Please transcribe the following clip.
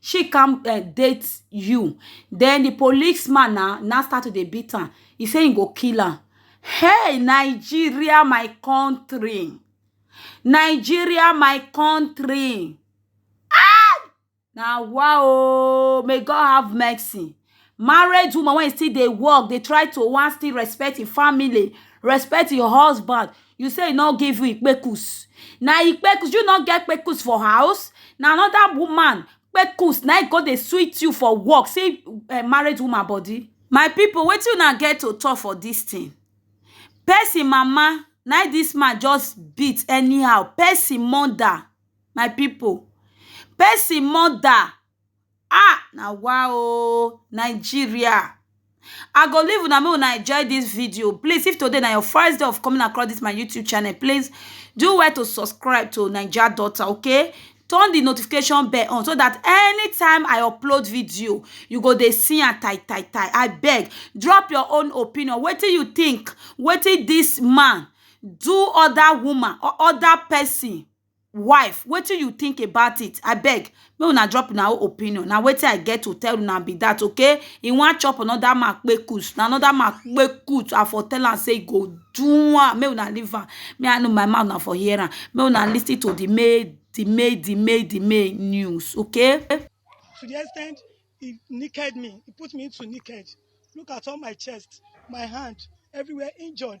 she come um date you den the police man na na start to dey beat am he say he go kill am hey Nigeria my country Nigeria my country ah na wa o may God have mercy married woman wey still dey work dey try to wan still respect im family respect im husband you say e no give you kpekus na im kpekus you no get kpekus for house na anoda woman kpekus na im go dey sweet you for work see married woman body my pipo wetin una get to talk for dis tin person mama na im dis man just beat anyhow person mother my pipo person mother Ah! Na wa o! Nigeria! I go leave una make una enjoy dis video. Please, if today na your first day of coming across dis my YouTube channel, please do well to subscribe to Naija Daughter, okay? Turn the notification bell on so that anytime I upload video, you go dey see am tai tai tai. I beg, drop your own opinion. Wetin you think? Wetin dis man do other woman or other person? wife wetin you think about it abeg make una drop una own opinion na wetin i get to tell una be that okay e wan chop another man kpekus na another man kpekus i for tell am say e go do am make una leave am me i know my mouth na for hear am make una lis ten to the main the main the main the main news okay. to the extent he naked me he put me into naked look at all my chest my hand everywhere injured